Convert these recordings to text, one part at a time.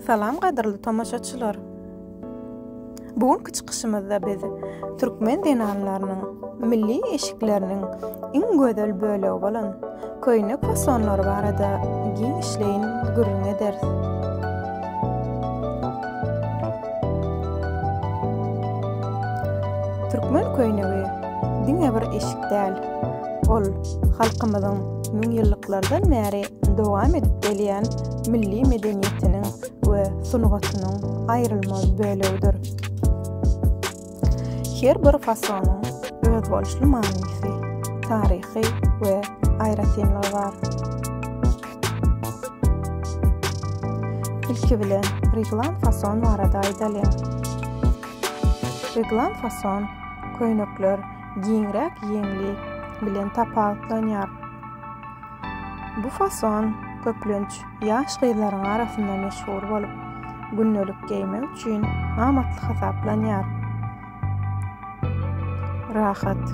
Salam gadyrly tomaşaçylar! Bu günki çykyşymyzda biz türkmen zenanlarynyň milli eşikleriniň iň gözel bölegi bolan köýnek fasonlary barada giňişleýin gürrüň ederis. Türkmen köýnegi diňe bir eşik däl, ol halkymyzyň müňýyllyklardan bäri dowam edip gelýän milli medeniýetiniň we sungatynyň aýrylmaz bölegidir. Her bir fasonyň özboluşly manysy, taryhy we aýratynlygy bar. Ilki bilen reglan fason barada aýdalyň. Reglan fason köýnekler giňräk ýeňli bilen tapawutlanýar. Bu fason, köplenç, ýaş gyzlaryň arasynda meşhur bolup, gündelik geýmek üçin amatly hasaplanýar. Rahat,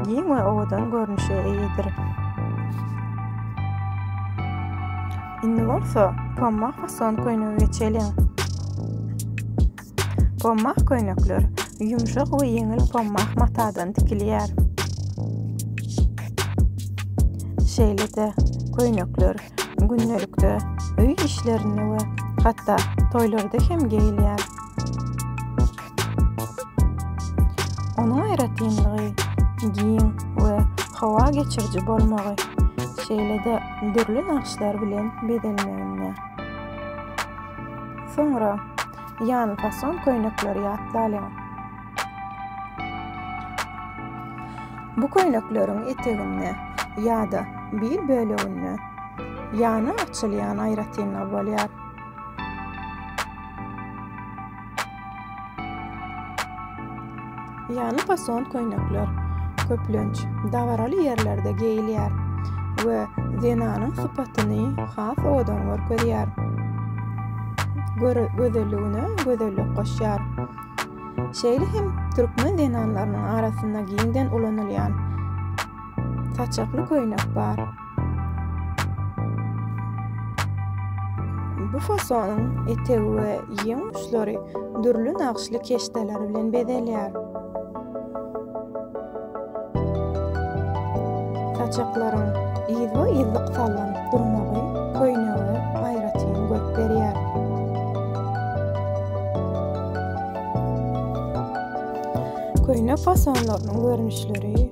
giň we owadan görnüşe eýedir. Indi bolsa pomma fason köýnege geçeliň. Pommah köýnekler ýumşak we ýeňil pommah matadan tikilýär. Şeýle-de, köýnekler gündelikde öý işlerinde we hatda toýlarda hem geýilýär. Onuň aýratynlygy giň we howa geçiriji bolmagy, şeýle-de dürli nagyşlar bilen bezelmeginde. Soňra Ýan fason köýnekleri ýatlalyň. Bu köýnekleriň eteginde ýa-da bir böleginde ýany açylýan aýratynlygy bolýar. Ýany fason köýnekler, köplenç, dabaraly ýerlerde geýilýär we zenanyň sypatyny has owadan görkezýär. Gözelligine gözellik goşýar. Şeýle hem türkmen zenanlarynyň arasynda giňden ulanylýan saçakly köýnek bar. Bu fasonyň etegi we ýeň uçlary dürli nagşly keşdeler bilen bezelýär. Saçaklaryň ýyzma-ýyzlyk sallan durmagy köýnege aýratyn görk berýär. Köýnek fasonlarynyň görnüşleri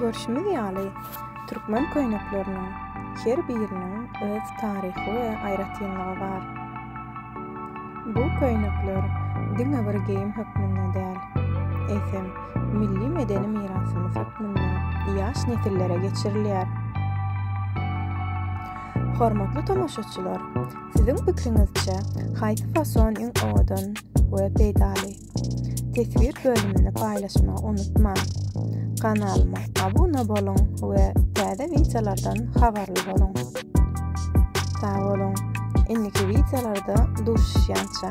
Görşümiz ýaly, türkmen köýnekleriniň her biriniň öz taryhy we aýratynlygy bar. Bu köýnekler diňe bir geýim hökmünde däl, eýsem, milli medeni mirasymyz hökmünde ýaş nesillere geçirilýär. Hormatly tomaşaçylar, siziň pikiriňizçe, haýsy fason iň owadan we peýdaly? Teswir bölümini paýlaşmagy unutmaň. Kanalyma abuna boluň we täze wideolardan habarly boluň. Sag boluň, indiki wideolarda duşuşýança.